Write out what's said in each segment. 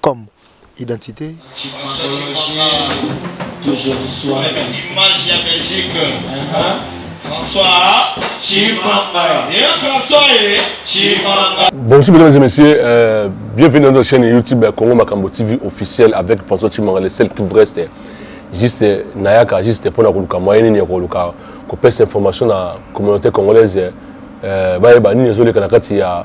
comme identite. Bonjour mesdames et messieurs, euh, bienvenue dans notre chaîne YouTube Congo Makambo TV officiel avec François Chimanga, le seul qui vous reste juste nayaka juste pona koluka moyen nini ya koluka kopesa information na communauté congolaise euh, bayeba nini ezoleka na kati ya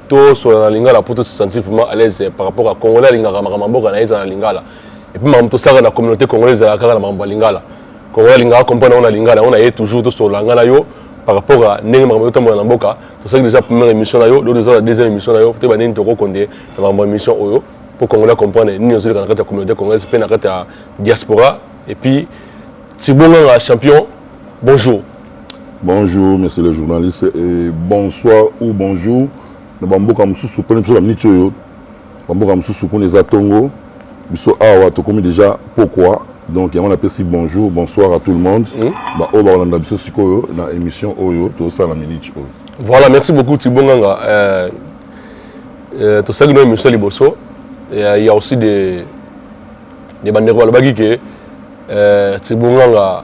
tosolola na lingala mpo to se sentir vraiment à l'aise par rapport à congolais alingaka makambo mboka na ye ezala na lingala epuis makambo tosaka na communauté congolais ezalaka kaka na makambo ya lingala congolais alingaka comprendre yango na lingala yango na ye toujours tosolola ngai na yo par rapport à ndenge makambo ezotambola na mboka tosalaki déjà première émission na yo lelo toza na deuxième émission na yo toyeba nini tokokonde na makambo ya émission oyo mpo congolais comprendre nini ozoleka na kati ya communauté congolaise mpe na kati ya diaspora epuis Thierbo Nganga champion, bonjour. Bonjour, monsieur le journaliste, et bonsoir ou bonjour. Na bamboka mosusu pene biso baminiti oyo bamboka mosusu kuna eza ntongo biso awa tokomi déjà pokwa donc yango napesi bonjour bonsoir à tout le monde hmm? baoyo bakolanda biso sikoyo na émission oyo tozosala na miniti oyo voilà merci beaucoup tibonganga euh, euh, tosalaki no émission liboso il y a aussi des bandeko balobaki ke Eh, Tribonganga,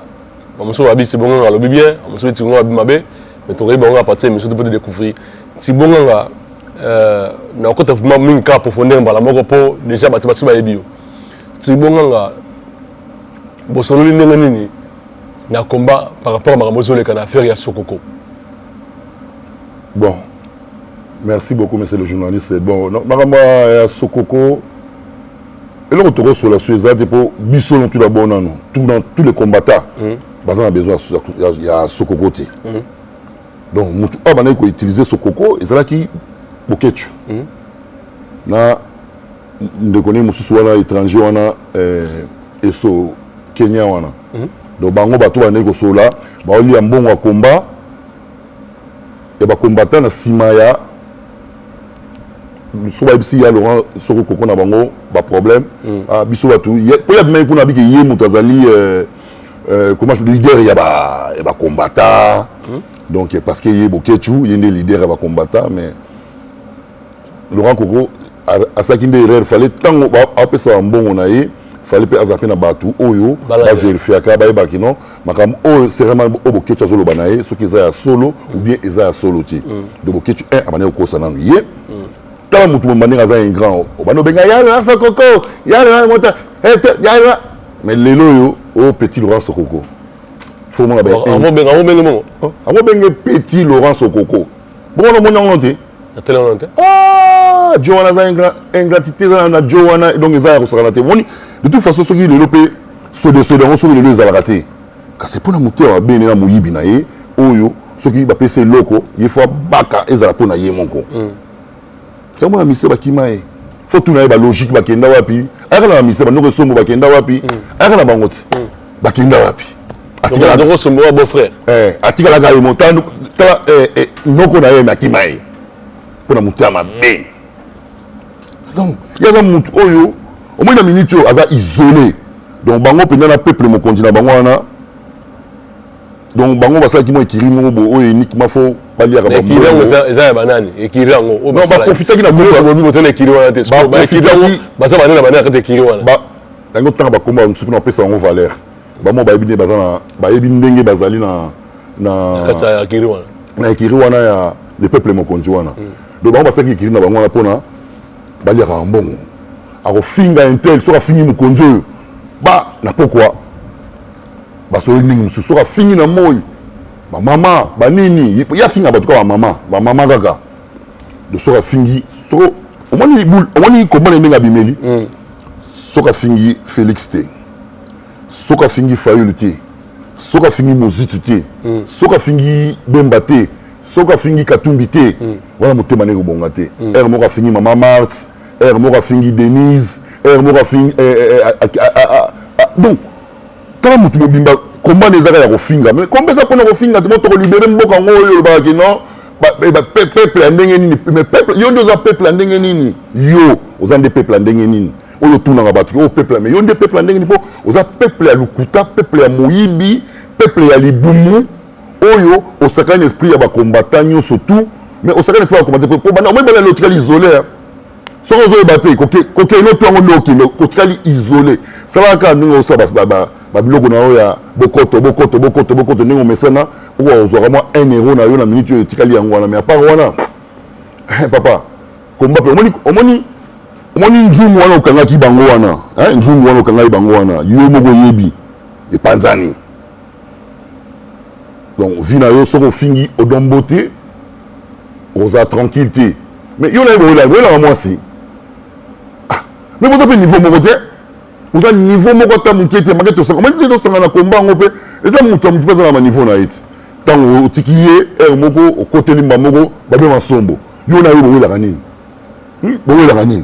bamosusu babi Tribonganga alobi bien, bamosusu babi Tribonganga alobi mabe, mais tokoyebi bango à partir ya émission to mpo to découvrir. Tribonganga, Euh, na kota vraiment mingi kaka profondeur mbala moko mpo déjà bato basi bayebi yo tribonganga bosololi ndenge nini na combat par rapport ya makambo ezoleka na affaire ya sokoko bon merci beaucoup monsieur le journaliste bon makambo ya sokoko eloko tokosola so eza te mpo biso na tula bo nano tuna tous les combattants hmm. baza na besoin ya sokoko te hmm. donc motu oyo abandaki koutilize sokoko ezalaki bokecu hmm. na ndeko nini mosusu wana étranger wana eh, eso kenya wana donc bango bato bandaki kosolola baolia mbongo ya komba ya bakombata na nsima ya soki bayebisi ya laurent soko koko na bango baproblème mm. ah, biso bato po ya bimai kuna abiki ye moto azali euh, euh, comment je leader ya bacombata mm. donc parce que ye bokechu ye nde leader ya bacombata mais laurent koko asalaki nde erreur fale ntango apesaka mbongo na ye fale mpe aza mpe na bato oyo baverifiaka bayebaki non makambo oyo serema oyo boketchu azoloba na ye soki eza ya solo ou bien eza ya solo te mm. donc boketchu un abandaki kokosa nanu ye mm. tala motu momba ndenge aza ingrand obandi obenga yala sokoko yala mota yala mais lelo oyo o oh, petit laurent sokoko fomona baango benge petit laurent sokoko boko na moni yango te natali yango te ah, jo wana aza ingratité eza na jo wana donc eza ya kosakana te moni de toute façon soki lelo mpe sodesode yango soki lelo ezalaka te kasi mpo na moto ya mabene na moyibi na ye oyo soki bapesi eloko ye fo abaka ezala mpo na ye moko mm. ya mwana mise bakima ye fo tuna ye balogique bakenda wapi ayaka na bamise bandoko esombo bakenda wapi mm. ayaka na bango ti mm. bakenda wapi atikalaka eh, ye motano tala eh, eh, noko na ye me akima ye mpo na moto ya mabe donc ye aza motu oyo omoi na miniti oyo aza isole donc bango mpenza na peuple mokonzi na bango wana donc bango basalaki mwa ekiri moko boye oyo uniquement fo baliaka baekiri yango eza ya banani ekiri yango oyo baprofitaki na bobi boza na ekiri wana te baekiri yango baza banani na banani kati ekiri wana yango ntanga bakoma mosusu mpona bapesa yango valeur bamo bayebi nde baza na bayebi ndenge bazali na na na ekiri wana ya le peuple mokonzi wana hmm. donc bango basalaki ekiri na bango wana mpona baliaka mbongo akofinga intel soki afingi mokonzi oyo ba na pokwa basololi ndenge mosusu soki afingi na moi bamama banini ye afinga bato kaka bamama bamama kaka de soki afingi soko omoni komona ndenge abimeli mm. soki afingi félix te soki afingi fayulu te soki afingi mozitu te mm. soki afingi bemba te soki afingi katumbi te mm. wana motema ndenge kobonga te ere moko afingi mama marte ere moko afingi denise ere moko afingi eh, eh, eh, donc tala mutu mobimba combat na ezaka ya kofinga mais combat eza mpona kofinga te moto kolibere mboka yango oyo olobaka ke non peuple ya ndenge nini mais peuple yo nde oza peuple ya ndenge nini yo oza nde peuple ya ndenge nini oyo otunaka bato oyo oh, peuple mais yo nde peuple ya ndenge nini mpo oza peuple ya lokuta peuple ya moyibi peuple ya libumu oyo osakani na esprit ya bacombattant nyonso tout mais osakani na esprit ya bacombattant mpo banda omoi bana lotikali isolere soki ozoyeba te kokeino to yango nde okende otikali isole salaka kaka ndenge osala babiloko na yo ya bokoto bokoto bokoto bokoto ndenge omesana okoka kozwaka mwa un euro na yo na minute oyo etikali yango wana mais apart wana eh, papa komba mpe omoni omoni omoni nzungu wana okangaki bango wana nzungu wana okangaki bango wana yo moko oyebi epanzani donc vie na yo soki ofingi odon mbote okozala tranquille te mais yo naye boyelaka boyelaka mwasi ah, mais boza mpe niveau moko te oza niveau moko ata moke te make tosangana tosanga na komba yango mpe eza moto ya moto mpe aza na baniveau na ye ti ntango otiki ye heure moko okoteli mba moko babe masombo yo na ye bowelaka nini hmm? bowelaka nini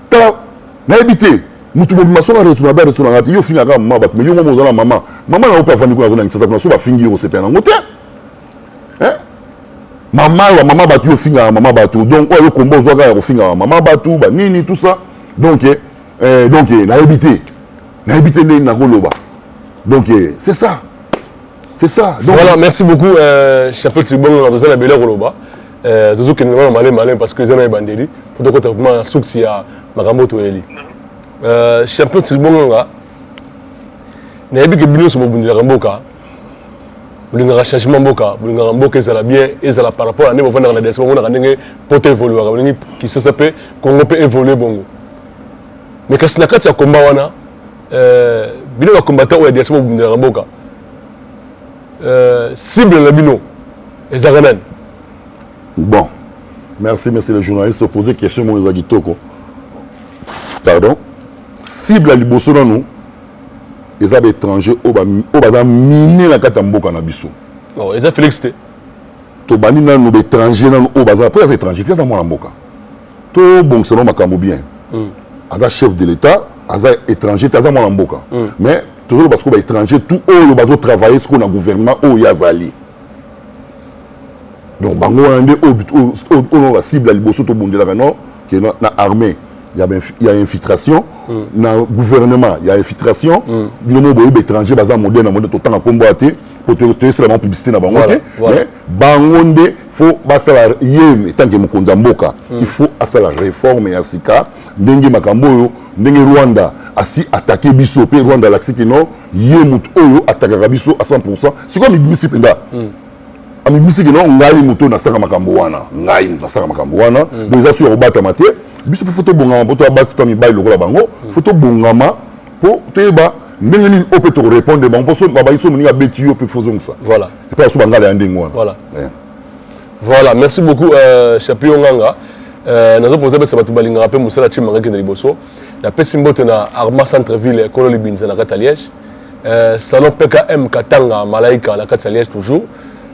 tala nayebi te mutu mobima soki aresu na baresu na ngai te yo ofinga kaka mama bato me yo moko ozala mama mama na yo mpe afandi kuna azona kisasa kuna so bafingi yo kosepela nango te mama ya mama bato yo ofingaka mama bato donc oyo yo komba ozwa kaka ya kofingaka mama bato banini tout ça donc eh, eh donc eh, nayebi te nayebi te ndenge nakoloba donc eh, c'est ça c'est ça donc voilà merci beaucoup euh, chapeau tibongo na toza na bele koloba Euh, tozo kende vraiment malin malin parce que eza na ebandeli faut tokota vraiment na source ya makambo toyeli euh, champion tilibongo nga nayebi ke bino nyonso bobundelaka mboka bolingaka changement mboka bolingaka mboka ezala bien ezala par rapport na ndenge bofandaka na diaspora omonaka ndenge poto evoluaka bolingi kisasa mpe congo mpe évolue bongo mais kasi na kati ya komba wana euh, bino bakombata oyo ya diaspora bobundelaka mboka cible na bino ezalaka nani bon merci monsieur le journaliste opose question moko eza kitoko pardon cible ya liboso nanu eza baétranger oyo baza mine na kati ya mboka na biso oh, eza félix te tobandi nanu baétranger nanu oyo baza mpo aza étranger te aza mwana mboka tobongisa no makambo bien hmm. aza chef de l'état aza étranger te aza mwana mboka hmm. mais tozoloba sikoyo baétranger tout oyo bazotravaille sikoyo na gouvernement oyo ye azali donc bango wana nde oyo bacible ya liboso tobundelaka no ke na armée ya infiltration mm. na gouvernement ya infiltration mm. bino moko boyebi étranger baza modele na modele totanga nkombo ya te mpo toyesela bango publicité na bango te mais bango nde faut basala ye etanke mokonzi ya mboka mm. il faut asala réforme ya sika ndenge makambo oyo ndenge rwanda asi atake biso mpe rwanda alakisi kino ye moto oyo atakaka biso a 100 sikoyo amibimisi mpenza mm. amibimisi kino ngai moto nasaka makambo wana ngai moto nasaka makambo wana mm. donc eza su ya kobatama te biso mpe fo tobongama mpo toya basi to mibali lokola bango mm. fo tobongama mpo toyeba ndenge nini oyo mpe tokorepondre bango mpo babangi so moninga abeti yo mpe fozongisa voilà epai so bangala ya ndenge wana voilà yeah. voilà merci beaucoup euh, chapion nganga euh, nazopoza pesa bato balingaka mpe mosala cimanga ekende liboso napesi mbote na arma centre ville ekolo libinza na kati ya liège euh, salon pkm katanga malaika na kati ya liège toujours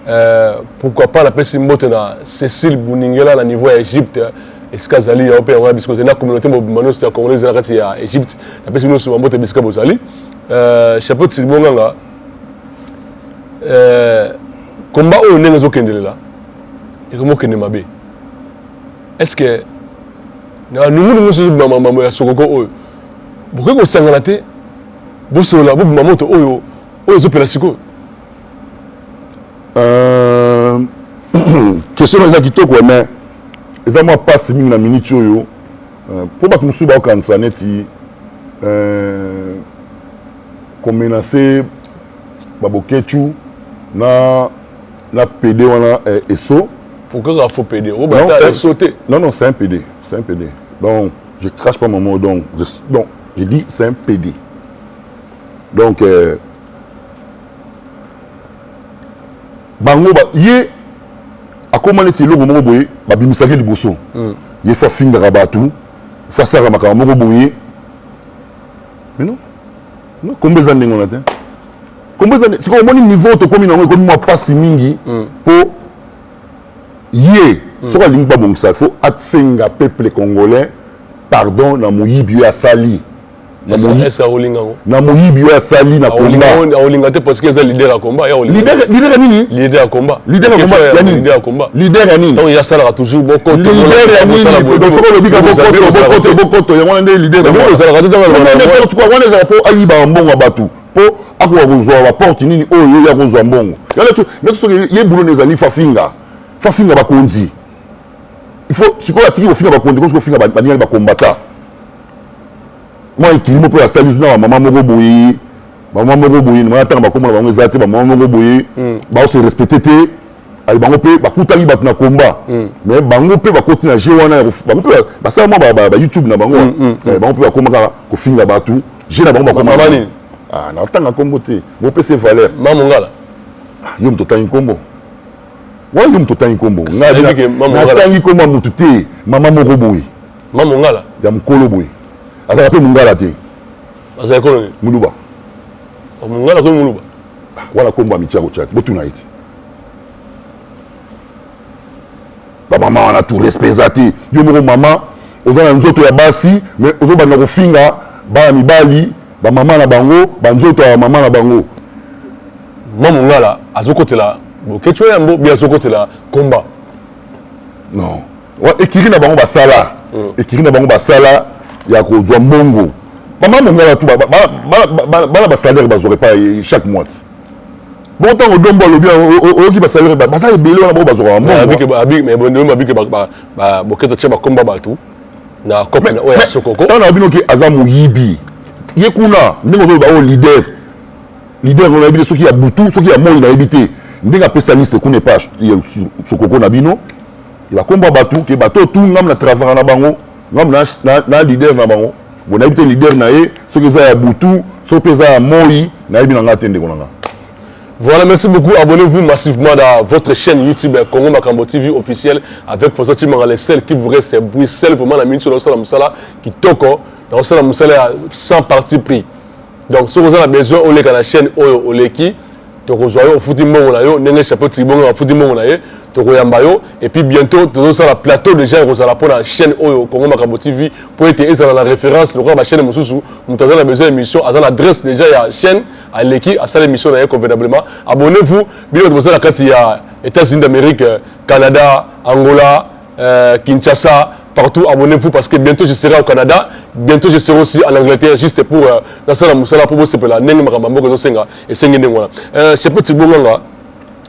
euh, pourquoi pas napesi mbote na cécile buningela na niveau ya égypte esika azali yango mpe yango ya bisika ozali na communauté mobimba nyonso ya congolais ezali na kati ya égypte napesi bino nyonso bambote bisika bozali euh, chapeau tilibonganga komba oyo ndenge ezokendelela ekomokende mabe est ce que na nungunungu mosusu bima mambo ya sokoko oyo bokoki kosangana te bosolola bobima moto oyo oyo ezopela sikoyo euh, question eza kitoko mais eza mwa mpasi mingi na miniti oyo euh, mpo bato mosusu bakokanisa neti euh, komenase baboketu na na pede wana eh, eso pourquoi kaka faut pede oyo bata eso te non non c'est un pede c'est un pede donc je crache pas mon mot donc je, donc je dis c'est un pede donc euh, bango ba, ye akóma neti eloko moko boye babimisaki liboso mm. ye fo afingaka bato fo asalaka makambo moko boye mais non Non, kombo eza ndenge wana te. Kombo eza sikoyo omoni niveau tokomi na yango ekomi mwa pasi mingi hmm. po ye hmm. soki alingi babongisa fo asenga peuple congolais pardon na moyibi oyo asali na moyibi oyo asali na combatleader nini leader ya combat ya nini leader ya nini donc yasalaka toujours bokoto leader ya nini soki olobi ka bokoto bokoto bokoto yango wana nde leader yango ezalaka te wana ezalaka mpo ayibaka mbongo ya bato mpo akoka kozwa baporte nini oyo oh, ye akozwa mbongo nde soki ye bulo na ezali fafinga fafinga bakonzi ifo sikoyo atiki kofinga bakonzi kosi kofinga baningani bakombata mwa ekilimo mpo asali na bamama moko boye ba mwa moko boye na tanga bakombo na bango eza te ba mwa moko boye mm. ba se respecter te ayi bango pe bakutaki bato na combat mm. mais bango pe bakoti na jeu wana bango pe basala mwa ba, ba, ba youtube na bango mm, eh, bango pe bakoma kaka kofinga bato jeu na bango bakoma nini ah na tanga kombo te bo pe se valeur mamu ngala ah, yo moto tangi kombo wana yo moto tangi kombo ngai natangi kombo ya moto te mama moko boye mamu ngala ya mokolo boye azalaka pe mongala te azali kolo nini muluba oh, nga nakomi muluba ah, wana kombo ya mitia kotia te botuna ye ti bamama wana tu respect eza te yo moko mama oza na nzoto ya basi mais ozobanda kofinga bana mibali bamama na bango banzoto ya bamama na bango ma mongala azokotela boketsho yambo bi azokotela komba non ekiri na bango basala ekiri na bango basala ya kozwa mbongo bama mongala tu bana basalaire bazwaka epai chaque mois ti bongo ntango dombo alobi oyoki basalaire baza ebele wana bango bazwaka mbongoboketo tya bakomba bato na cope na oyo ya sokoko ntango na bino ke aza moyibi ye kuna ndenge ozoloba oyo leader leader oyo nayebi te soki ya butu soki ya moi nayebi te ndenge apesa liste kuna epai sokoko na bino Ba kombo ya batu ke ba to tout ngam na travaka na bango ngam na na na leader na bango bo nayebi te leader na ye soki eza ya butu soki pe eza ya moi nayebi na nga te ndeko na nga. Voilà, merci beaucoup. Abonnez-vous massivement à votre chaîne YouTube euh, Congo Makambo TV officiel avec François Chimanga, le seul qui vous reste c'est bruit, seul vraiment la minute sur le sol, qui toko, dans le sol, sans parti pris. Donc soki oza na besoin oleka na chaîne oyo oleki tokozwa yo ofuti mbongo na yo ndenge chapeau tribongo afuti mbongo na ye tokoyamba yo et puis bientôt tozosala plateau déjà ekozala mpo na chaîne oyo congo makambo tv mpo ete ezala na référence lokola bachaîne mosusu moto aza na besoin ya émission aza na adresse déjà ya chaîne aleki asala émission na ye convenablement abonnez vous bino bato boza na kati ya états-unis d'amérique canada angola Euh, Kinshasa, partout, abonnez-vous parce que bientôt je serai au Canada, bientôt je serai aussi en Angleterre juste pour euh, la salle musala pour bosser la nenge makambo ko senga et sengi nenge wana. Euh, je peux tibonganga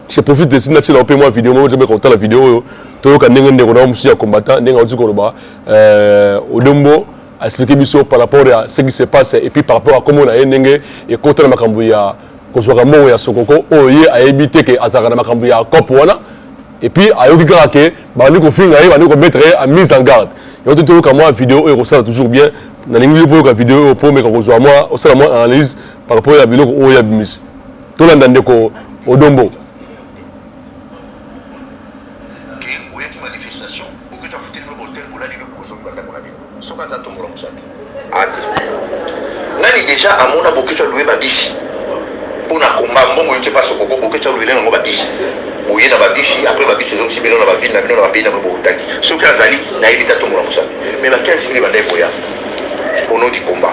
je profite de sina tshela ope moi vidéo moi je ko la vidéo oyo toyoka nenge ndeko na musuya combattant nenge oziko loba euh odombo a expliquer biso par rapport à ce qui se passe et puis par rapport à comment on a nenge et contre makambo ya kozwaka mbongo ya sokoko oyo ye ayebi te ke azalaka na makambo ya cope wana Et puis ayoki kaka ke bandi kofinga ye bandi komettre ye en mise en garde yango te toyoka mwa video oyo ekosala toujours bien nalingi yo mpo oyoka video oyo mpo omeka kozwa mwa osala mwa analyse par rapport ya biloko oyo abimisi tolanda ndeko odombo Soki aza tombola musapi a te nani deja amona boketshu alue ba bisi mpo na combat mbongo yo te pasi okoko boketshu aluele nango ba bisi boye na ba bisi apres ba bisi ezongisi bino na ba ville na bino na ba pays na bino bowutaki soki azali nayebi te atombola musapi mais ba 15 mille ebanda ekoya au nom du combat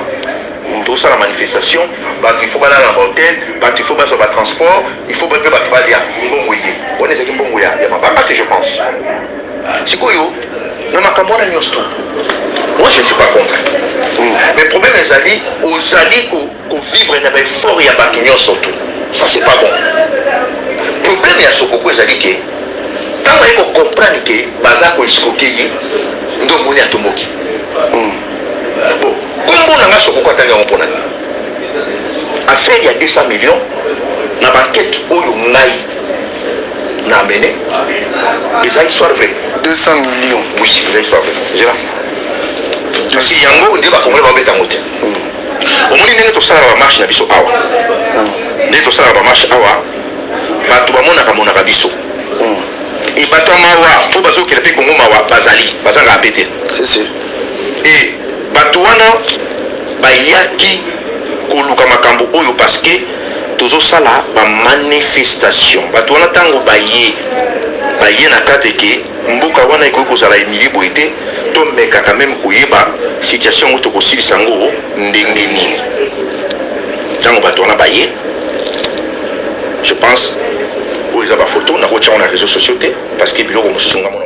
tosala manifestation bato ifo balala na bahotel bato ifo bazwa batransport ifo bape bato balia mbongo eye wana ezalaki mbongo ya mabanga te je pense Sikoyo na makambo wana nyonso moi je ne suis pas contre mm. mais problème ezali ozali kovivre na baeffort ya bato nyonso tu ça c'est pas bon problème ya sokoko ezali ke ntango aye kocomprendre ke baza koeskoke ye nde omoni atomboki mm. bon kombo na nga sokoko atangi yango mpo na nga affaire ya 200 millions na bankete oyo ngai na amene eza histoire vrai 200 millions oui eza histoire vrai zela kasi yango nde bakongole babeta yango te hmm. omoni ndenge tosalaka bamarche na biso awa hmm. ndenge tosalaka bamarche awa bato bamonaka monaka biso hmm. e bato ya mawa oyo bazokela mpe kongo mawa bazali bazangaka mpe te e bato wana bayaki koluka makambo oyo paske Tozo sala ba manifestation batu wana tango baye baye na kate ke mboka wana ekoki kozala humilie boye te to meka quand meme koyeba situation yango toko silisa yango ndenge nini tango batu wana baye je pense oyo eza ba photo nako tia yango na reseaux sociaux te parce que biloko mususu nga mona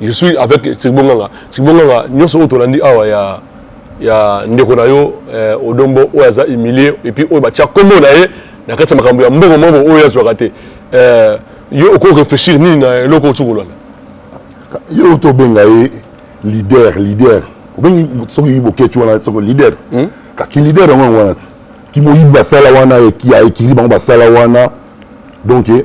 Je suis avec Tsirbo Nganga. Tsirbo Nganga, nyonso oyo tolandi awa ya ya ndeko na yo eh, Odombo oyo aza humilié et puis oyo batia kombo na ye na kati ya makambo ya mbongo mbongo oyo azwaka te. Eh, yo oko réfléchir nini na eloko oyo kolanda? Yo oto benga ye leader, leader. Obengi soki boketchu wana soko leader. Hmm? Ka ki leader yango wana ti. Ki moyibi basala wana ya ekili bango basala wana. Donc eh,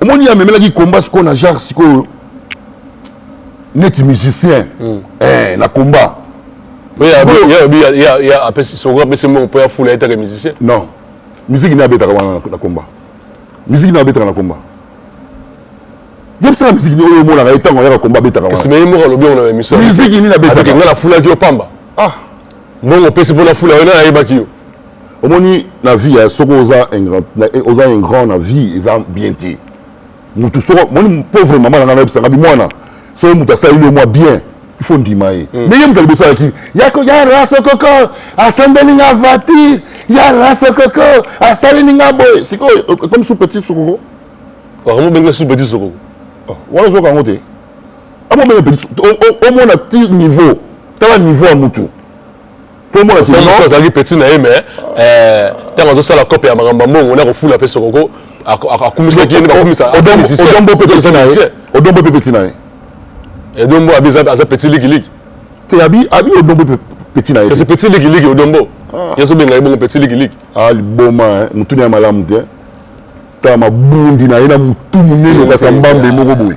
omoni amemelaki combat sikoyo na genre sikoyo neti musicien mm. eh, na combat soko apesi mbongo mpo ya fula yetaka musicien non miziki nde abetaka wana na combat miziki nde abetaka na combat yebisaka miziki oyo omonaka ye ntango ayaka combat abetaka wana ye moko alobi yango na émission miziki nini abetaka ngai nafulaki yo pamba ah. mbongo opesi mpo nafula yo nayebaki yo omoni na vie ya soki oza oza un grand na vie eza bien te mutu soko moni pauvre mama na ngai nayebisa ngai mwana soki mutu asaleli yo mwa bien il faut ndima ye mm. mais ye moto liboso alaki ya raso koko asambeli nga voiture ya raso koko asaleli nga boye sikoyo ekomi sous petit sokoko wakambo benga sous petit sokoko oh, wana ozoka yango te amobenga petit omona ti niveau tala niveau ya mutu komona te non azalaki petit na ye mais euh tango azo sala cop ya makambo mbongo na ko fula pe sokoko akumisaki ye bakumisa odombo pe petit na ye odombo pe petit na ye edombo abi aza petit liki liki te abi abi odombo pe petit na ye c'est petit liki liki odombo ah. yeso benga ye bongo petit liki liki ah liboma hein mutuni ya malamu te ta mabundi na ye na mutu munene okasa mbambe moko boye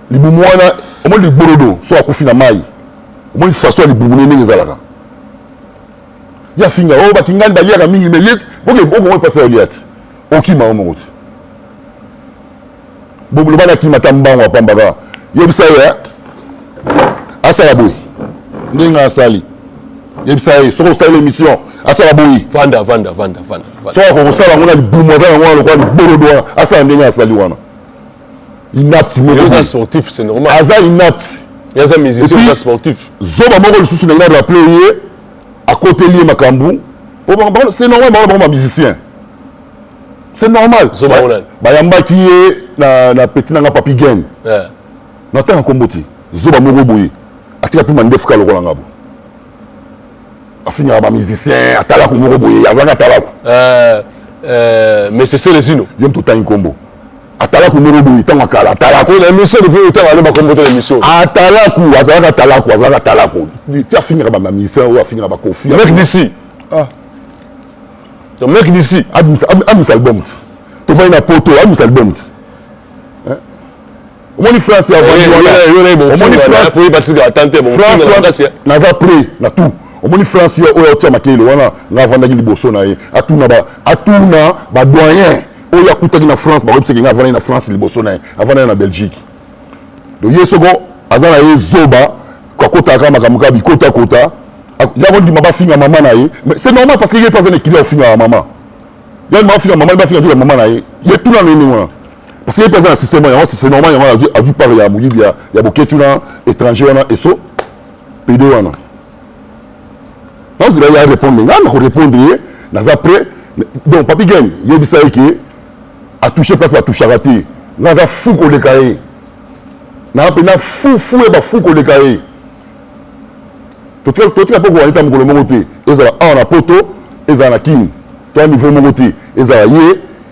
libumu wana omoni ligbolodo so akufi na mai omoni faso ya libumu ne ndenge ezalaka ye afinga o oh, bakingani baliaka mingi me ye okomoi mpasi ya olia te okima yo moko te boloba na kima ata mbango apambaka yebisa ye eh? asala boye ndenge asali yebisa ye soki osali l'émission asala boyi vanda vanda vanda vanda soki akokosala yango na libumu aza yango wana lokola libolodo wana asala ndenge asali wana inapte moko sportif c'est normal aza inapte aza musicien aza sportif zoba moko lisusu na ngai na rappeler ye akoteli ye makambo c'est normal bango na bango ba musicien c'est normal bayambaki ye na, na petit nanga papi gen yeah. natanga nkombo te zoba moko boye atika mpe mandefu ka lokola ngabo afingaka ba musicien atalaku moko boye azalaka atalaku euh, euh, mais c'est celezino yo mtu otangi nkombo atalaku moko boye ntango akala atalaku na émission depuis otango aloba nkombo te na émission atalaku azalaka atalaku azalaka atalaku ti afingaka ba musicien oyo afingaka ba kofi mec d'ici ah. mec d'ici amis album ti tofandi na poto amis album ti omoni france ya vandi wanaomoni france naza près na tout omoni france oyo aotya makele wana nga avandaki liboso na ye atuna atuna badoyen oyo akutaki na france bakoyebisaki nga avandaki na france liboso na ye avandaki na belgique donc ye soko aza na ye zoba akotaka kaka makambo kaka bikotakota ya kondima bafinga mama na ye c'est normal parce que ye mpe aza na ekili ya kofinga ya mama ya kondima bafinga mama bafinga kaka mama na ye ye tuna na ye ndenge wana parce que ye mpe aza na système yango c'est normal yango azwi azwi part ya moyibi ya, ya boketi wana étranger wana eso pede wana nazela ye arépondre ngai nakorépondre ye naza prêt donc papi game yebisa ye ke atouche place batouchaka te ngai aza fou koleka ye naa mpenza fou fou ya bafou koleka ye totika mpe kowanita mokolo moko te ezala awa na poto ezala na kini to ya niveau moko te ezala ye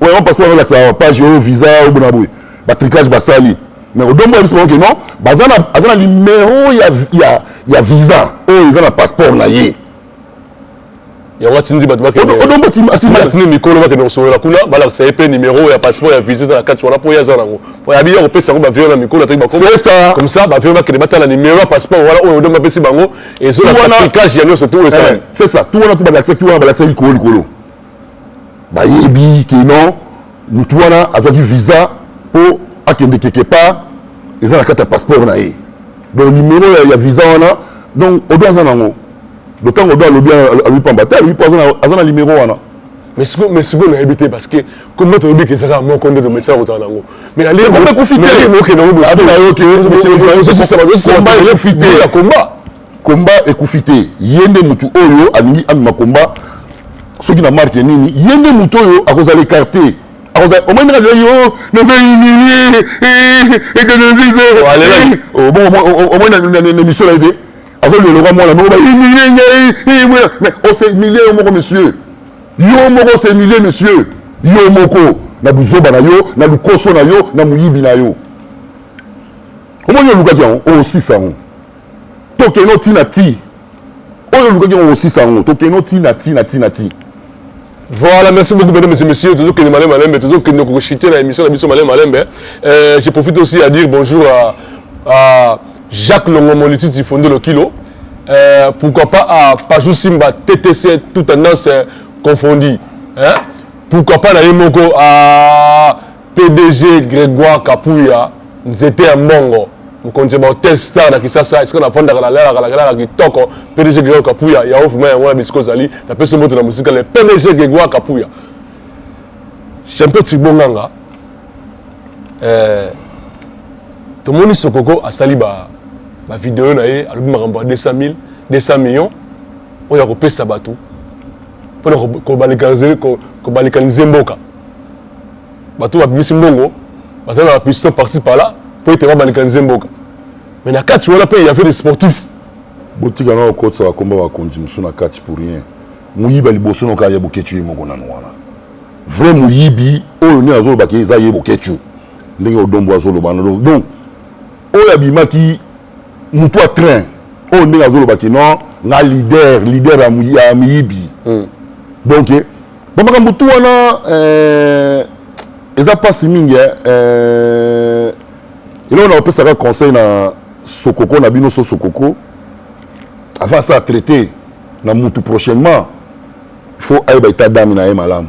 oyo yango passeport azolakisa awa page oyo visa oyo bona boye batricage basali mais odombo yebisi bango ke non baza na aza na numero ya, ya, ya visa oyo eza na passeport na ye yango atindi bato bakendebasini mikolo bakende kosolola kuna balakisa ye mpe numero ya passeport ya visa eza na kati wana mpo ye aza nango mpo yabi ya kopesa yango bavio na mikolo ataki bakomi ça bavio bakende batala numero ya passeport wana oyo odongo apesi bango ezolaa ya nyonso tu oyo esalaki eh, c'est ça tu wana tu balakisa tu wana balakisa likolo likolo bayebi que non mutu wana azwaki visa mpo akende quelque part eza na kati ya passeport na ye donc numero ya, ya visa wana donc odo aza nango donc ntango odo alobi alobi pamba te alobi mpo aza na numero wana mais sikoyo mais sikoyo nayebi te parce que kombo toyebi keza kaka moko nde tomesala kozala nango mais nalekokende yango bokomba combat ekufi te ye nde motu oyo alingi amema combat soki na marke nini ye nde motu oyo akozala écarté omoni ndenge alelaki o naza humilie ekeneviseomoni na émission na ye te azolelokwa mwana moko bahumilie ngai mais osemilie yo moko monsieur yo moko osemilie monsieur yo moko na buzoba na yo na lukoso na yo na moyibi na yo omoni olukaki yango osisa yango tokende oti na ti oyo olukaki yango kosisa yango tokende oti na ti na ti na ti Voilà, merci beaucoup, mesdames et messieurs. Toujours que les malins malins, toujours que nous chiter dans l'émission de Bisson Malin Malin. Euh, je profite aussi à dire bonjour à, à Jacques Longomoliti du Fondo Le Kilo. Euh, pourquoi pas à Pajou Simba, TTC, toute tendance euh, confondue. Hein? Pourquoi pas à Yemoko, à Pdg Gregoire Kapuya nzete ya mbongo mokonzi ya ba hotel star na kisasa esika na fandaka na lalaka nakelaka kitoko pdg Gregoire Kapuya ya ofuma yango na bisika ozali na pesi mbote na mosika le pdg Gregoire Kapuya champion Thibon Nganga eh, tomoni sokoko asali ba ba video na ye alobi makambo ya 200 000 200 millions oyo akopesa bato mpona kobalikanize mboka bato babimisi mbongo baza na piston parti pala mpo ete babalekanize mboka mais na kati wana mpe yave de sportif botika nga kokotisa bakomba bakonzi mosusu na kati pour rien moyiba liboso noka ya boketchu ye moko nanu wana vrai moyibi oyo nde nazolobaki eza ye boketchu ndenge odombo azoloba donc oyo abimaki motu ya train oyo ndenge azolobaki non nga leader leader ya miyibi hmm. donc ba makambo tu wana eh, eza mpasi mingi eh, eh, eloko na kopesaka conseil na sokoko na bino so sokoko avant asala traité na mutu prochainement faut ayeba eta dame na ye malamu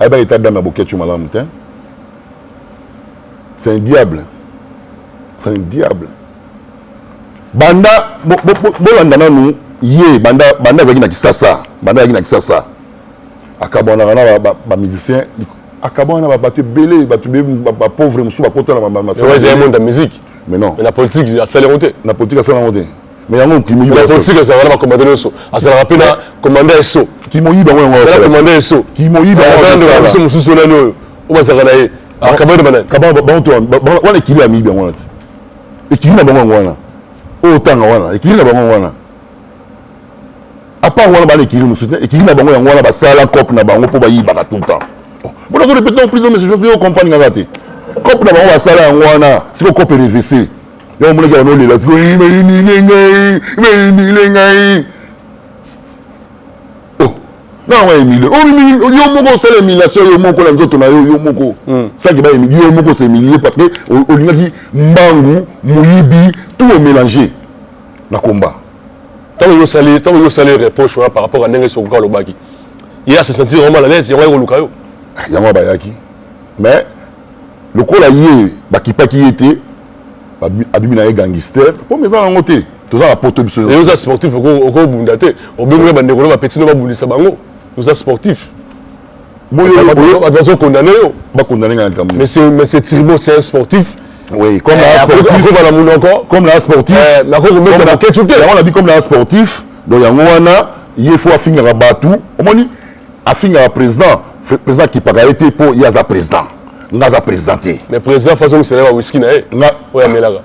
ayebaka eta dame ya boketshu malamu te c'est un diable c'est un diable banda bolanda nanu ye banda banda azalaki na kisasa banda azalaki na kisasa akabanaka na ba musicien akabana na bato ebele bato bapauvre mosusu bakota na masamonda musique mais non na politique asali yango te na politique asali yango te mais yango okimipolitique azalaka na bacommande nyonso azalaka mpe na commande ya so kimoyibi yango yango azala commande ya so kimoyibi yango biso mosusu nani oyo oyo bazalaka na ye akabana banani wana ekili ya miyibi yango wana te ekili na bango yango wana oyo otanga wana ekili na bango yango wana apart wana bana ekiri mosusu ekiri na bango yango wana basala cope na bango mpo bayibaka tout le temps mpona zo répéter plus mais chose yo comprendre kaka te cope na bango basala yango wana siko cope revese yango omonaki yango olela siko bayinile ngai bayinile ngai nanga emile yo moko osala emilation yo moko na nzoto na yo yo moko hmm. saki baemili yo moko osa emilie parce que olingaki mbangu moyibi tout omélange na combat ntango yo osali ntango yo osali reproche wana par rapport à ndenge sokoka alobaki ye ase sentir yango mal à l'aise yango aye koluka yo ah, yango bayaki mais lokola ye bakipaki ye te abimi na ye gangister mpo me eza nango te toza na poto biso oza sportif okobunda te obengoli bandeko na bapetino babundisa bango oza sportif bato bazo condamne yo bakondamne nga na likambo monsieur tribo c'est un sportif Oui, comme eh, la sportif, comme la sportif, eh, comme la ketchup, on a dit comme la sportif, donc yango wana ye faut afingaka batu omoni afingaka président président akipaka ye te mpo ye aza président nga aza président te mais président faso misala ba wiski na ye nga oyo amelaka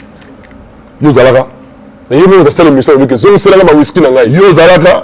yo ozalaka ye moko osala emission oloki ezongiselaka ba wiski na ngai yo ozalaka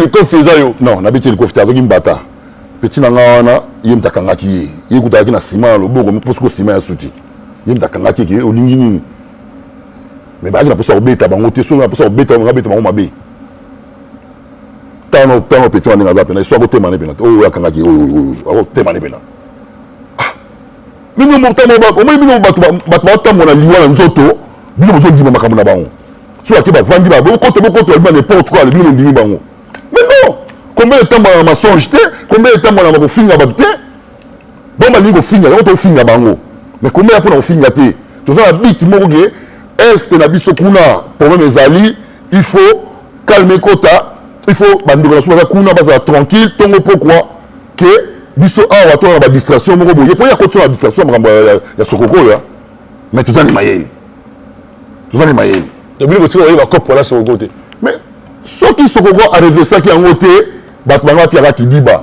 likofi eza yo non nabeti ye likofi te azoki mbata peti na nga wana ye moto akangaki ye ye kutu alaki na nsima ya loboko mposoki osima ya suti ye moto akangaki eke olingi nini me bayaki na mposa kobeta bango te soki na mposa kobeta bango abeta bango mabe ntango ntango peti wana ndenge aza mpena esu akotema ne mpena te oyo akangaki oyo akotema ne mpena bino motambo omoni bino bato batambola na liwa na nzoto bino bozondima makambo na bango so bake bavandi ba bokoto bokoto babima n'importe quoi bino mondimi bango mais non combien etambola na masonge te combien etambola na kofinga bato te bango balingi kofinga yango tofinga bango mais combien ya mpo na kofinga te toza na bit moko ke este na biso kuna problème ezali il faut calme kota il faut bandeko na biso baza kuna bazala tranquille ntongo pokwa ke biso awa tona na badistraction moko boye mpo ye akotisa na distraction ya makambo ya sokoko oyo mais toza na mayele toza na mayele tobili kotika baye bakopo na sokoko te mais soki sokoko arevesaki yango te bato bango batikaka kidiba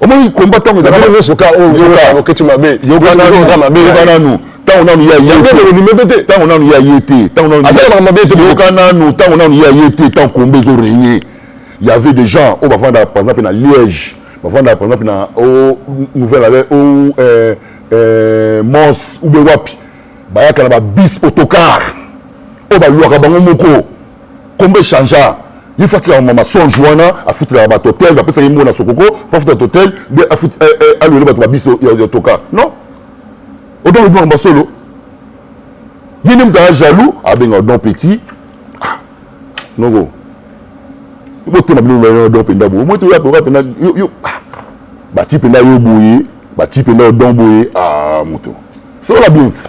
omoni komba ntango ezalaka nyonso ka oyo oketi mabe yokananu mabe yokananu ntango nanu ya ye te ntango nanu ya ye te ntango nanu asalaka mabe te yoka nanu ntango nanu ya ye te ntango komba ezo règne y avait des gens oyo bavandaka par exemple na liège bavandaka par exemple na o nouvelle ale o euh, euh, mons ou bien wapi bayaka na babis autocar oyo baluaka bango moko kombo echangea ye fo atika mama songe wana afutelaka bato hotel bapesaki mbona sokoko mpo afuta bato hotel nde alwele bato babiso ya toka non odon olobi makambo ya solo ye nde moto aya jaloux abenga odon petit ah, noko botema bino odon mpenza boye omoi toya oka mpenza ah, bati mpenza yo boye bati mpenza odon boye ah, moto solola bien ti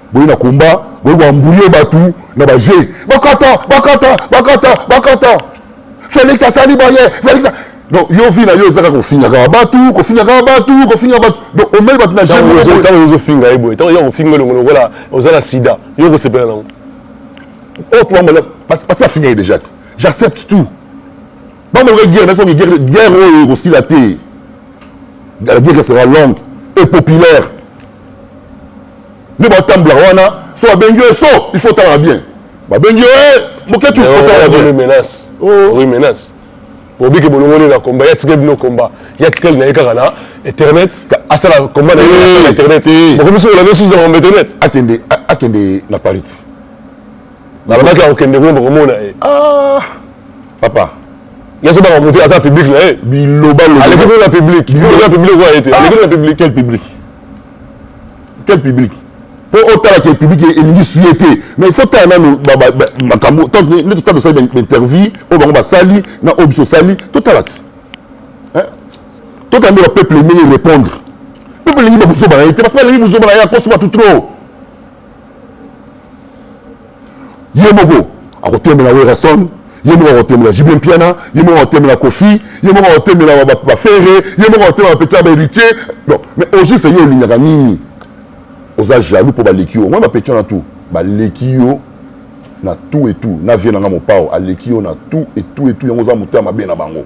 boye na combat boye ko embrouiller batu na ba jeu bakata bakata bakata bakata Felix asali boye Felix donc yo vie na yo eza kaka kofingaka batu kofingaka batu kofinga batu donc omeli batu na ntango ozofinga ye boye ntango yo kofinga elongo lokola oza na sida yo okosepela nango oyo tobambala parce que bafinga ye déjà te j'accepte tout bamaloka guerre na songi guerre guerre oyo ekosila te la guerre sera longue et populaire nde batambolaka wana so babengi yo so il faut otalaka bien babengi yo eh, moketu otalaka bien menace oh. oui menace obiki bolongoli na komba ya tikeli bino komba ya tikeli na ye kaka na internet asala komba na ye na internet bokomisi olanda susu na komba internet akende akende na paris Nalobaki akokende kuna bokomona ye. Ah papa. Yesu baka mutu aza public na ye. Biloba loba. Aleki kuna public. Biloba public kwa ye te. Aleki kuna public. Quel public? Quel public? mpo otala ke public elingi suye te mais faut tala nanu makambo nde totala tosali bainterview oyo bango basali na oyo biso osali totala ti totala nde bapeuple ndenge répondre peuple elingi babuzoba na ye te basi balingi buzoba na ye akosi batu trop ye moko akotemela werrason ye moko akotemela jibe mpiana ye moko akotemela kofi ye moko akotemela bafere ye moko akotemela petit ya baheritier donc mais au juste ye olingaka nini oza jaloux mpo baleki yo omoi bapeti wana tout baleki yo na tout et tout na vie na nga mopao aleki yo na tout et tout et tout yango oza moto ya mabe na bango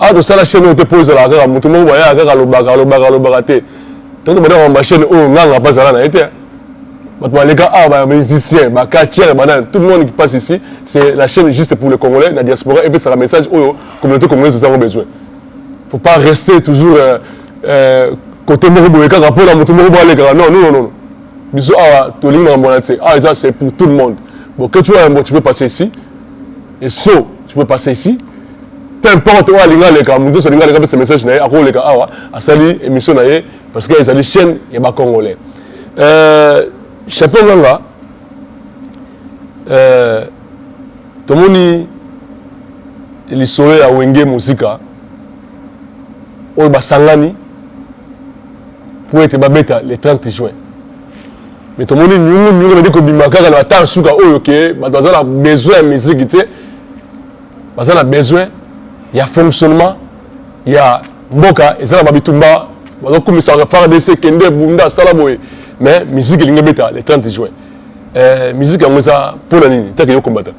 awa tosala chaîne oyo te mpo ezalaka kaka moto moko bayaka kaka alobaka alobaka alobaka te tanto badaka ba chaîne oyo nganga mpe azala na ye te bato baleka awa ba musicien bacatiere banani tout le monde qui passe ici c'est la chaîne juste pour le congolais na diaspora epesaka message oyo communauté congolaise ezango besoin faut pas rester toujours euh, euh, côté moko boye kaka mpo na moto moko boye alekaka non non non biso awa tolingi makambo wana te awa eza c'est pour tout le monde bon que tu as un bon tu peux passer ici Esso, tu peux passer ici. Peu importe, oyo alinga aleka, moto nyonso alinga aleka apesa message na ye, akoleka awa, asali émission na ye, parce que ezali chaîne ya ba Congolais. Euh, Chapeau Nganga, euh, tomoni lisolo ya Wenge Muzika, oyo basangani, mpo ete babeta le 30 juin. mais tomoni nyungu nyungu ebandi kobima kaka na batare suka oyo ke bato baza na besoin ya miziki te baza na besoin ya fonctionnement ya mboka eza na babitumba bazokumisaka fardc kende bunda sala boye mais miziki elingi ebeta le 30 juin eh, miziki yango eza mpo na nini take yo kombata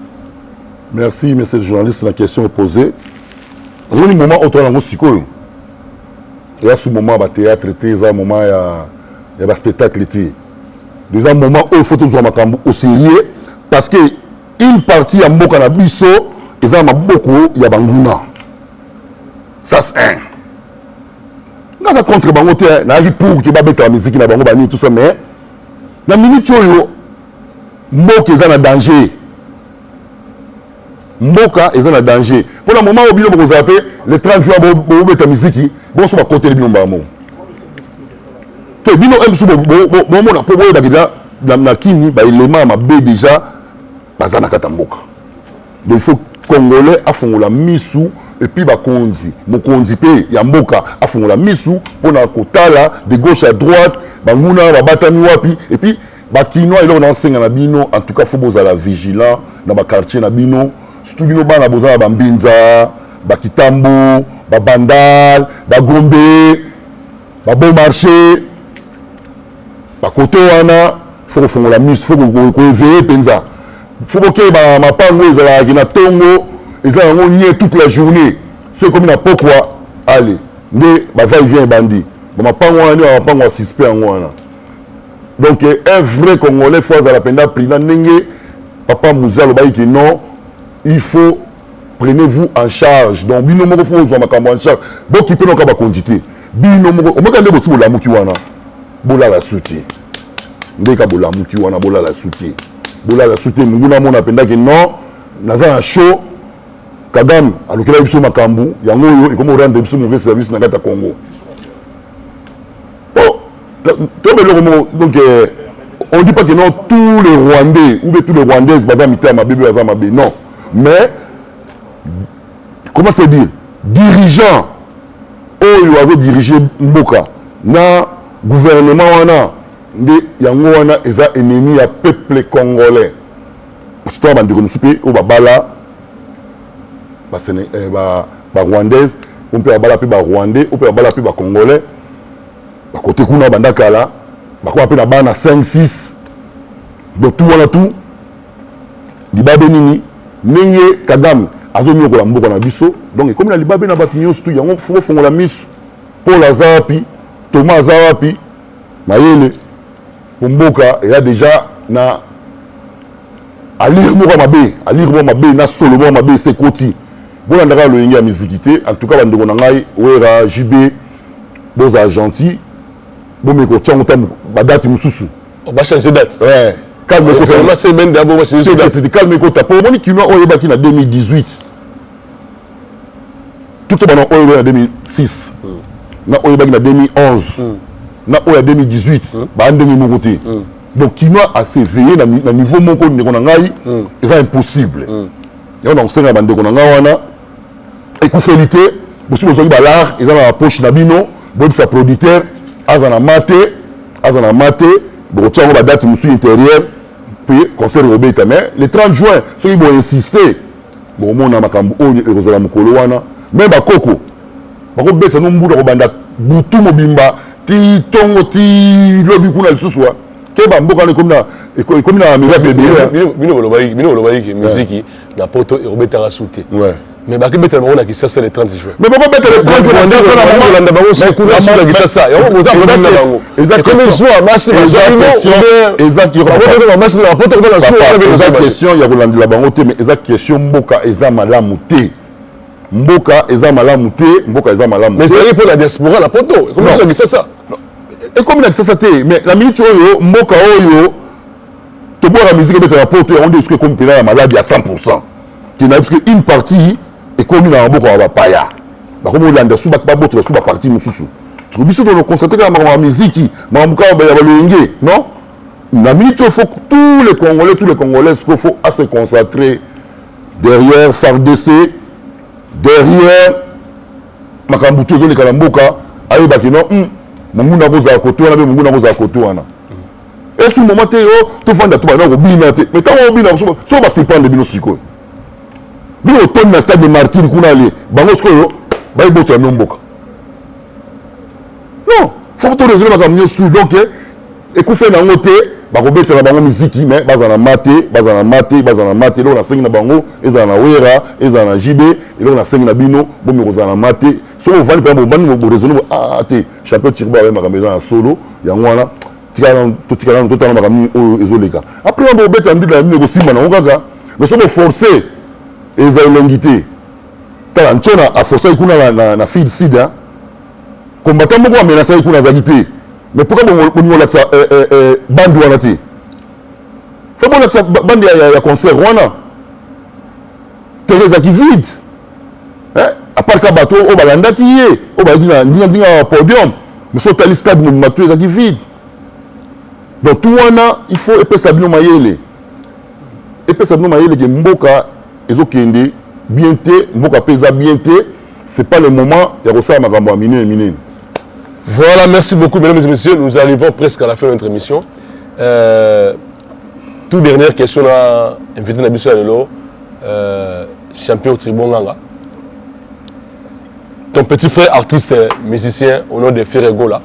merci monsieur le journaliste na question opposé omoni moment oyo toala yango sikoyo eza su moment ya batheatre te eza moment ya, ya baspectacle te eza moment oyo fo tozwa makambo au sérieux parce que une partie ya mboka na biso eza na maboko ya banguna sas 1 naza contre bango te nayaki pour ke babetaka miziki na bango banini tout ça mais na minute oyo mboka eza na danger Mboka eza na danger pona moment oyo bino bokozala pe le 30 juin bobeta miziki bonso bakoteli bino mbala moko te bino msu bomona po boyeba kida na kini baelema ya mabe deja baza na kati ya mboka donc il faut congolais afongola misu epuis bakonzi mokonzi mpe ya mboka afongola misu mpona kotala de gauche à droite banguna babatami wapi epuis Ba kinois eloko na senga na bino en tout cas faut bozala vigilant na ba quartier na bino surtout bino bana boza na ba mbinza ba kitambo ba bandal ba gombe ba bon marché ba koto wana faut kofongola miso faut koeveye mpenza faut bokeba mapango ezalaki na tongo eza yango nie toute la journée so ekomi na pokwa ale nde bavai vient ebandi bamapango wana nde bamapango ya suspect yango wana donc un vrai congolais faut azala mpenza prudent ndenge papa muze alobaki ke non il faut prenez vous en charge donc bino moko fo ozwa makambo en charge bokipe noka bakonzi te bino moko omeka nde bosi bolamuki wana bolala su te ndeka bolamuki wana bolala su te bolala su te monguna amona mpenza ke non naza na show kagame alukela biso makambo yango oyo ekomi orendre biso mauvais service na kati ya congo po tobe eloko moko donc euh, on dit pas que non tous les rwandais ou bien tous les rwandaises baza mitema mabe be baza mabe non mais comment se dire dirigeant oyo oh, azodirige mboka na gouvernement wana nde yango wana eza ennemi ya peuple congolais parce to ya bandeko mosusu mpe oyo babala ba Séné eh, ba ba rwandaise ou mpe babala mpe ba rwandais ou mpe babala mpe ba congolais bakote kuna banda kala bakoma mpe na bana 5 6 donc tout wana tout libabe nini ndenge kagame azonyokola mboka na biso donc ekomi na libabe na bato nyonso tu yango fo kofongola miso paul aza wapi toma aza wapi mayele Mpo mboka eya deja na alire moko ya mabe, alire moko ya mabe na solo moko ya mabe esi ekoti. Bolanda kaka loyenge ya miziki te. En tout cas bandeko na ngai Wera, JB bozala gentil bomeka kotya yango ntango badati mosusu bachange date eh, calme eh, ekota calme ekota mpo omoni kinois oyo oyebaki na 2018 tuto bana oyo na 2006 mm. na oyo ebaki na 2011 mm. na oyo ya 2018 mm. baa ndenge moko te mm. donc kinois aseveille na, na niveau moko ndeko na ngai mm. eza impossible mm. yango nakosenga bandeko na ngai wana ekufeli te bosi bozwaki balare eza na bapoche na bino boyebisa producteur aza na ma te aza na ma te bokotya yango badate mosusu intérieure mpe concert ekobeta mais le 30 juin soki boinsiste Bokomona makambo oyo ekozala mokolo wana. Meme bakoko bakobesa no mbula kobanda butu mobimba tii tongo tii lobi kuna lisusu wa keba mboka wana ekomi na eko- ekomi na miracle ebele hein. Bino- bino bolobaki bino bolobaki ke miziki na poto ekobetaka su te Ouais. mais bakebetela bango na kisasa le 30 juin mais bakobetela 30 jours na Rwanda- kisasa na Rwanda- mama- Rwanda bango Mais- sukuna- sukuna mais- kisasa. Yango mais- boza- mais- boza na mais- bango. eza question ya kolandela bango te mais eza question mboka eza malamu te mboka eza malamu te mboka eza malamu te ezali mpo na diaspora na poto ekomi na kisasa ekomi na kisasa te mais na miniti oyo mboka oyo tobwaka miziki ebetaka poto yango nde esuki ekomi mpena ya maladi ya 100 pourcent kinayebi soki une partie ekomi na maboko ya bapaya bakomi kolanda su babotola su baparti mosusu siko biso tokokonstate kaka makambo ya miziki makambo kaka ya balolenge non na minute oyo faut tous les congolais tous les congolais siko faut à se concentrer derrière fardc derrière makambo tu ezoleka na mboka ayebaki non hmm, monguna akozala koto wana mpe monguna akozala koto wana esu moma te yo oh, tofanda to bana kobina te mai ntango obina so basurprendre bino sikoyo bino botondi na stade de martire kuna ale bango sikoyo bayiboto ya no mboka non foko to raisonne makambo nyonso tu donc eh, ekufe na yango te bakobetela bango miziki me bazala na ma te bazala na ma te bazala na ma te eloko nasengi na bango ezala na wera ezala na jb eloko nasengi na bino bomi kozala na ma te soki ovandi mpenza bobandi boresone ah, ah, te champion tirba aye makambo eza na solo yango wana totika nanu totanga makambo nini oyo ezoleka après wana bobeta na mbibla na bino ekosimba nango kaka mais soki boforce eza elengi te tala ncona aforcaki kuna na, na, na fil sud combattant moko amenasaki kuna azalaki te mais pourka bolingi kolakisa eh, eh, eh, bandi wana te fo bolakisa bandi ya, ya, ya concert wana tere ezalaki vide eh? apart ka bato oyo balandaki ye oyo bazalaki na ndingandinga ya podium mais so otali stade mobimba tout ezalaki vide donc tout wana il faut epesa bino mayele epesa bino mayele ke mboka ezokende bien te mboka mpe eza bien te c'est pas le moment ya kosala makambo ya minene minene voilà merci beaucoup mesdames et messieurs nous arrivons presque à la fin de notre émission euh, tout dernière question na invité na biso ya lelo euh, champion tribonganga Ton petit frère artiste musicien au nom de Ferre Gola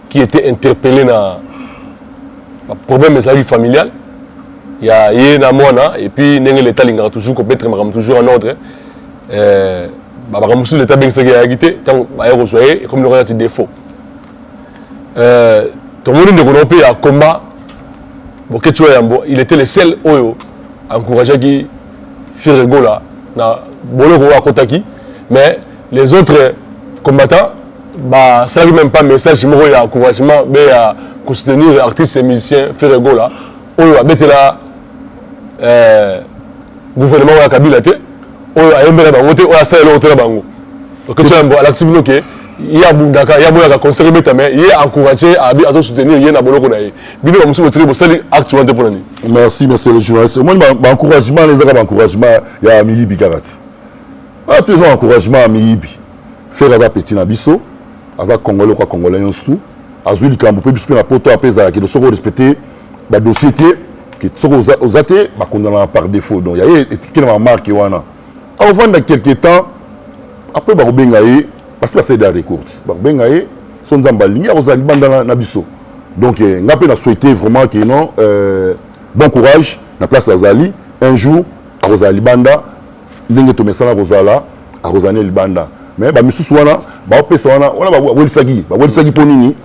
qui était interpellé na problème ezalaki familial ya ye na mwana et puis ndenge leta alingaka toujours kobetre makambo toujours en ordre euh, makambo mosusu leta abengisaki ayaki te ntango baye kozwa ye ekomi lokola nati défaut euh, tomoni ndeko na yo mpe ya combat boketshiwa yambo il était le seul oyo encourageaki Ferre Gola na boloko oyo akotaki mais les autres combattants basalaki meme pas message moko ya encouragement be ya kosoutenir artiste et musicien Ferre Gola oyo abetela eh, gouvernement oyo ya Kabila te oyo ayembela bango te oyo asala eloko te na bango okesha yambo alakisi bino ke ye abundaka ye aboyaka concert ebeta mais ye encourage abi azo soutenir ye na boloko na ye bino ba mususu botiki bosali acte wana te mpo na nini merci monsieur le journaliste omoni baencouragement wana ezaka baencouragement ya miyibi kaka te wana te eza encouragement ya miyibi fere aza petit na biso aza congolais lokola congolais nyonso tu azwi likambo mpe biso mpe na poto ape ezalaki de soki orespecte badossier te soki oza te bakondanaka par défaut donc yaye etekelama marke wana akovanda quelque temps apres bakobenga ye basi basali da recourse bakobenga ye so nzambe alingi akozala libanda na biso donc eh, nga mpe na souhaite vraiment que non euh, bon courage na place azali un jour akozala libanda ndenge tomesana kozala akozala ne libanda mais bamisusu wana baopesa wana wana bawelisaki bawelisaki mpo nini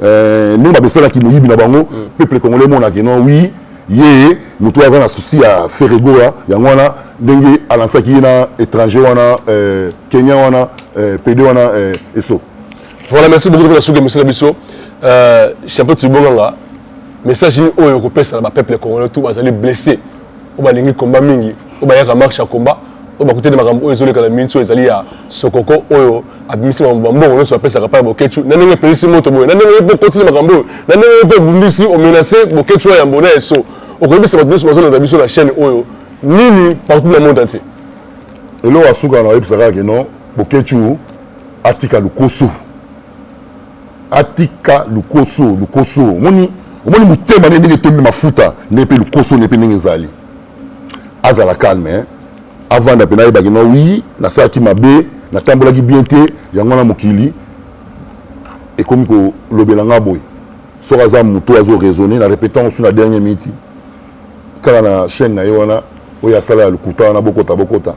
euh, ndenge bamesanaki moyibi na bango mm. peuple congolais emonaki non oui ye moto oyo aza na souci ya ferregoa yango wana ndenge alansaki ye na étranger wana euh, kenya wana euh, pede wana euh, eso Voilà, merci beaucoup de la soupe, monsieur Nabisso. Euh, champion Tibonganga, message ni oyo kopesa na ba peuple congolais tout bazali blessé. Oyo balingi combat mingi, oyo bayaka marche ya combat, oyo bakuteli makambo oyo ezoleka na minso ezali ya sokoko oyo abimisi makambo bambongo nyonso apesaka pa ya boketshu na ndenge epelisi moto boye na ndenge mpe okotisi makambo oyo na ndenge mpe obundisi omenase boketshu ya yambo na eso okoyebisa bato nyonso bazolanda biso na chaîne oyo nini partout na monde entier eloko ya suka na oyebisa kaka kino boketshu Atika lukoso. Atika lukoso, lukoso. Omoni omoni motema ne ndenge etondi mafuta ndenge mpe lukoso ne mpe ndenge ezali. Azala calme hein. Avanda mpe nayebaki na oui nasalaki mabe natambolaki bien te yango wana mokili ekomi kolobela nga boye soki aza moto azo raisonner na repetant osu na dernier minute kaka na chaîne na ye wana oyo asala ya lokuta wana bokota bokota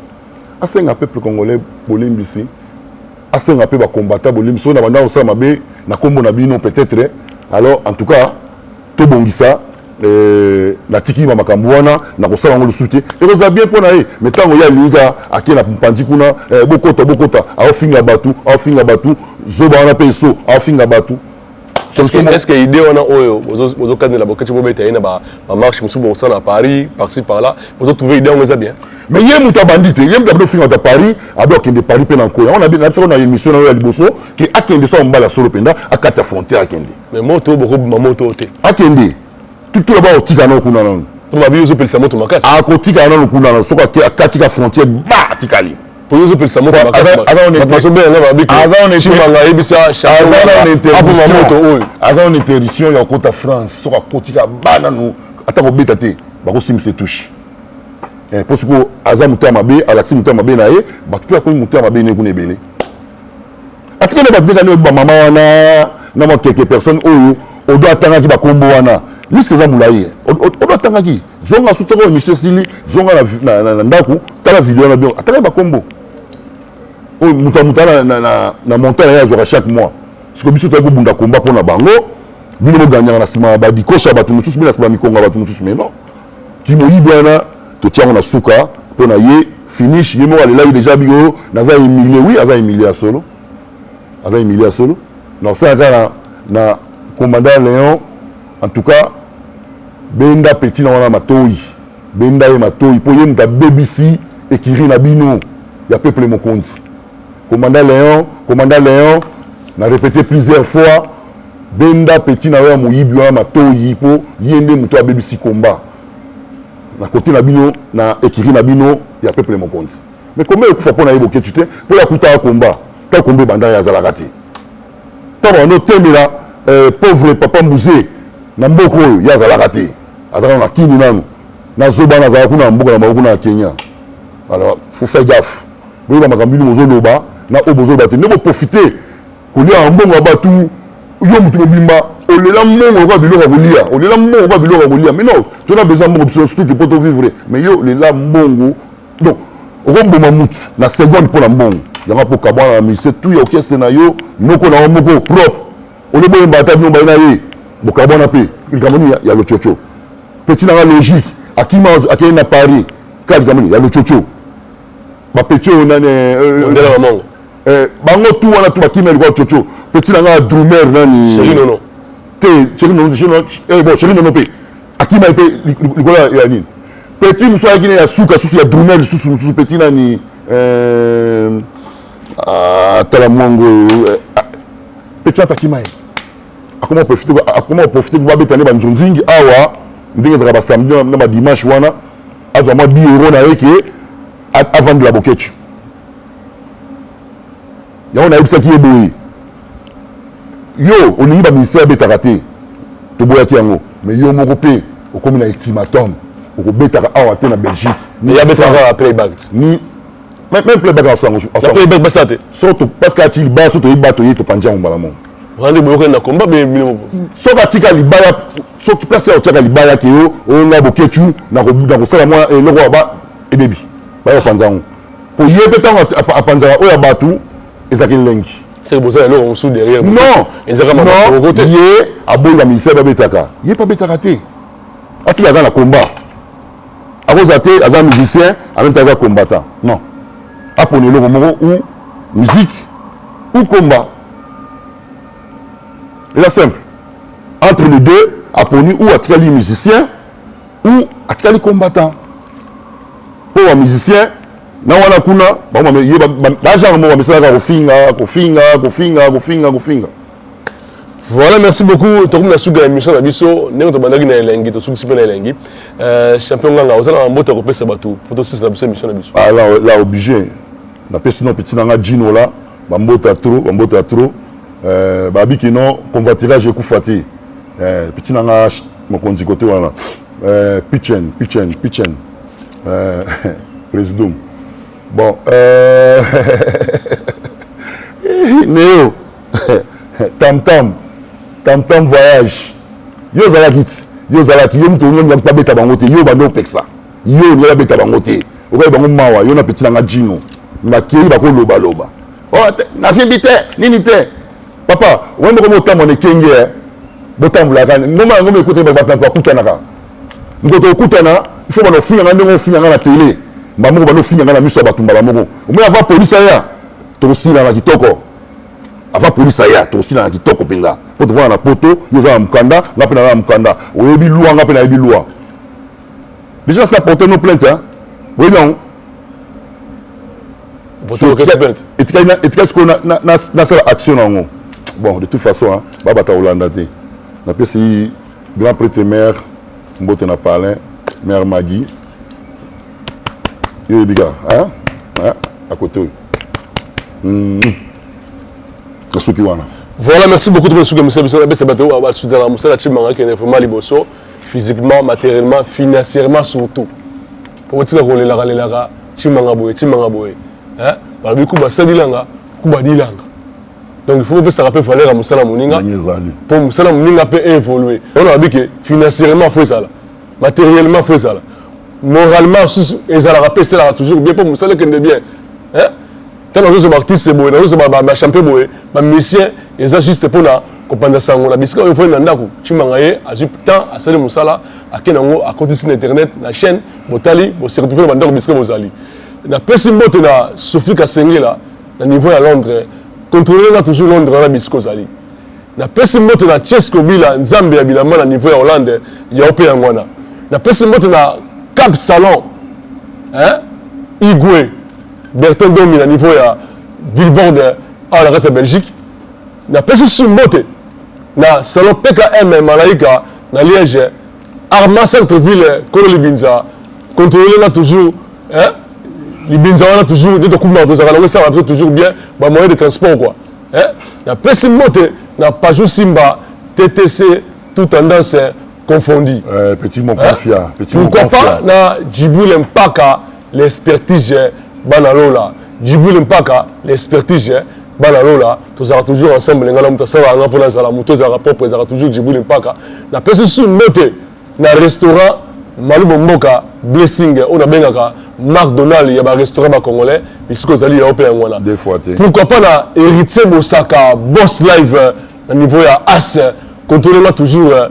asenga peuple congolais bolimbisi asenga mpe bakombata bolimbisi oyo na banda kosala mabe na nkombo na bino peut-être alors en tout cas tobongisa euh, natiki ma makambo wana nakosala yango lisusu te ekozala bien mpo na ye mai ntango ye alingika ake na mpanzi kuna eh, bokota bokota aofinga bato aofinga bato zoba wana mpe eso aofinga bato est ce que idée wana oyo bozokanela boketi bobeta ye na bamarche mosusu bokosala na paris parci par là bozotrouve idée yango eza bien mais ye moto abandi te ye moto abandi ofinga ta paris abi akende paris mpe na nko yango nabisako na émission na yo ya liboso ke akende so mobali ya solo mpenza akati ya frontière akende mais moto oyo bokobima moto te akende tutula bakotika nao kuna nano babi ozopelisa moto makasi akotika nano kuna nano soki akatika frontière ba atikali poni ezopelisa moto makasichimanga ayebisa apoma moto oyo aza na interdiction ya kota france soki akotika banano ata kobeta te bakosimbisa etushe eh, mpo sikoyo aza moto ya mabe alakisi moto ya mabe na ye bato mpe akomi moto ya mabe ne kuna ebele atika na bato ndenge nde bamama wana na mwa quelque personne oyo odo atangaki bakombo wana liste eza molai odo atangaki zonga susu soko emission esili zonga na, na, na, na ndako tala video na bio atala bakombo oyo moto ya moto na, na, na, na montant na ye azwaka chaque mois siko biso toyaki kobunda komba mpo na bango bino boganyaka na nsima ya badikosha ya bato mosusu mpe na nsima ya mikongo ya bato mosusu mai non kimoyibi wana totyango na suka mpo na ye finish ye moko alelaki deja biko oh, naza humilie wi aza humilie ya solo aza humilie ya solo na kosala kaka na commandant léon En tout cas, benda petit na wana matoyi. Benda ye matoyi po ye mutu abebisi ekiri na bino ya peuple mokonzi. Commandant Leon, commandant Leon, na répéter plusieurs fois benda petit na yo ya moyibi wana matoyi po ye nde mutu abebisi combat na kote na bino na ekiri na bino ya peuple mokonzi. Mais combat ekufa po na ye Boketshu te po ye akutaka combat. Tant combat ebanda ye azalaka te. Tango banda otemela pauvre papa Muze na mboka oyo ye azalaka te aza nanu na kin nanu na zoba wana azalaka kuna na mboka na bango kuna na Kenya alors faut faire gaffe boyeba makambo bino bozo loba na oyo bozo loba te nde bo profiter koliaka mbongo ya batu yo mutu mobimba olela mbongo lokola biloko ya kolia olela mbongo lokola biloko ya kolia mais non tona besoin mbongo biso surtout ki poto vivre mais yo olela mbongo donc okoboma mutu na seconde mpo na mbongo yango mpo kabwana na musicien tu ya orchestre na yo noko na yo moko propre ole boyemba ata bino baye na ye bokabwana mpe likambo nini ya lococo mpe ntina nga logique akima akei na paris kaka likambo nini ya lococo bapeti oyo nani eh, eh, ndela mamango eh, bango tu wana tu bakimi ya likwa lococo mpe ntina nga drumer nani te chéri nono bon chéri nono mpe akima ye mpe likolo ya nini peti mosusu ayaki ne ya suka susu ya drumel lisusu mosusu peti nani euh, ah, tala mwango euh, ah, peti wana akima ye akoma profite akoma profite mpo babeta nde banzonzingi awa ndenge ezalaka basamedi na badimanche wana azwa mwa bi euro na ye ke avandela boketchu yango nayebisaki ye boye yo olingi bamusicien abetaka te toboyaki yango mais yo moko mpe okomi na ultimatum okobetaka awa te na belgique ni abetaka playback ni même playback asango playback basa te so to parce que ati libaya so toyeba toye topanzi yango mbala moko rande boyokani na combat be bino moko soki atika libaya soki place ya otiaka libaya ke yo onga bokechu na kosala mwa eloko ya ba ebebi bayopanza yango po ye pe tango apanzaka oyo ya batu ezalaka elengi seke boza ya eloko mosusu derrière non ezaka mamakoko te ye aboyi ba ministère babetaka ye pe abetaka te atika aza na combat akozala te aza musicien en même temps aza combattant non apona eloko moko ou musique ou combat eza simple entre les deux aponi ou atikali musicien ou atikali combattant po ba musicien na wana kuna ba genre moko bamisalaka kofinga kofinga kofinga kofinga kofinga Voilà, merci beaucoup. Tokomi na suka ya mission na biso. Ndenge tobandaki na elengi, tosukisi mpe na elengi. Euh, champion Nganga, oza na mbote kopesa bato mpo tosisa na biso émission na biso. Ah, là, là obligé. Napesi no petit nanga Gino là, ba mbota trop, ba mbota trop. Euh, babiki non, convoitirage ekufa te. Euh, petit nanga mokonzi kote wana. Euh, Pichen, Pichen, Pichen. Euh, Président. Bon, euh... Néo, Tam Tam, Tam Tam voyage. Yo ozalaki ti, yo ozalaki, yo moto olingi yango babeta bango te, yo bando opekisa. Yo olingi babeta bango te. Okoki bango mawa, yo na petit na nga Gino. Bakei bakoloba loba. Oh, nasimbi te, nini te. papa wani moko botambola na ekenge eh. botambolaka ngomba yango mekute bato bakutanaka nkoto okutana ifo bana ofinga nga ndenge ofinga nga na tele mbala moko bana ofinga nga na miso ya bato mbala moko omoi ava polisi aya tokosilana kitoko ava polisi aya tokosilana kitoko mpenza mpo tovanda na poto yo oza na mokanda nga mpe naza na mokanda oyebi lwa nga mpe nayebi lwa déjà sina porte no plainte oyebi yango etikali sikoyo nasala action na yango bon de toute façon babata kolanda te napesi grand prêtre mare mbote na palin mare magi yo oyebi kaka akote oyo nasuki wana voilà merci beaucoup tokosuka mosala biso nabesa bato oyo basutana mosala timanga kende vraiment liboso physiquement matériellement financièrement surtout Okotika kolelaka lelaka timanga boye timanga boye eh? balobi kuba sadilanga kuba dilanga donc il faut kopesaka mpe valeur ya mosala moninga mpo mosala moninga mpe evolue wana babi ke financièrement fo ezala matériellement fo ezala moralement susu ezalaka mpe esalaka toujours bien mpo mosala ekende bien eh? ntango nazozo baartiste boye nazozo bachampion boye bamusicien eza juste mpo na kopanza sango na bisika oyo efali na ndako cimanga ye azwi temps asali mosala ake na yango akotisi na internet na chaîne botali boseretrouve na bandako bisika bozali napesi mbote na sophie kasengela na niveau ya londres controle nga toujours londres wana bisika ozali napesi mbote na chesco bila nzambe ya bilamba na niveau ya hollande yao mpe yango wana napesi mbote na cap salon hein? igwe Bertin Domi na niveau ya billboard awa na kati ya Belgique. Na pesi su mbote na salon PKM Malaika na Liège. Arma centre ville kolo libinza contrôler na toujours hein libinza wana toujours nde tokumaka tozalaka nango esalaka biso toujours bien ba moyen de transport quoi hein na pesi mbote na Pajou Simba TTC tout tendance confondu. Euh, petit Mokonfia, hein? petit Pourquoi Mokonfia. pas na Djibril Mpaka L'expertise bana lola Djibril Mpaka l'expertise bana lola tozalaka toujours ensemble nga na moto asalaka nga mpo nazala moto ezalaka propre ezalaka toujours Djibril Mpaka napesi lisusu mbote na restaurant malubo mboka blessing oyo nabengaka mark donald ya barestaurant bacongolais bisika ozali yao mpe yango wana pourquoi pas na héritier bosaka boss live euh, na niveau ya as controlema toujours euh,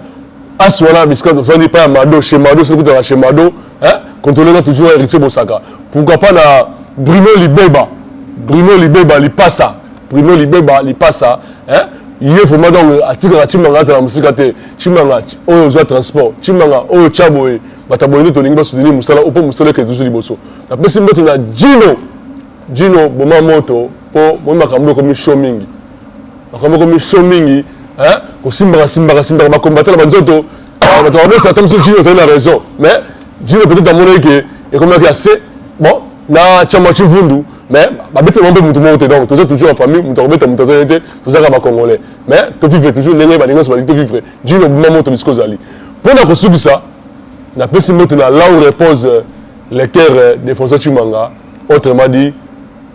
as wana bisika tofandi epai ya mado chez mado soki tozalaka chez mado Hein? Contrôlez là toujours héritier Bosaka. Pourquoi pas na Bruno Libeba? Bruno Libeba lipasa. Bruno Libeba lipasa. Hein? ye vraimen donc atikaka cimanga azala mosika te cimanga oyo ozwa transport cimanga oyo tya boye bato aboye nde tolingi basoutenir mosala oyo mpo mosala eke zuzu liboso napesi mbote na jino jino boma moto mpo moi makambo ekomi sho mingi makambo ekomi sho mingi kosimbaka simbaka simbaka bakombatana banzoto Ah, bato bakosa ata mosusu jini ozali na raison mais jini peut-être amonaki ke ekomaki ya se bon na chama chivundu mais babetisa bango mpe motu moko te donc toza toujours en famille moto akobeta moto azali te tozaka bacongolais mais tovivre toujours ndenge balingi nyonso balingi tovivre jini obima moto bisika ozali mpo na kosukisa napesi mbote na law repose lecteur euh, de françois chimanga autrement dit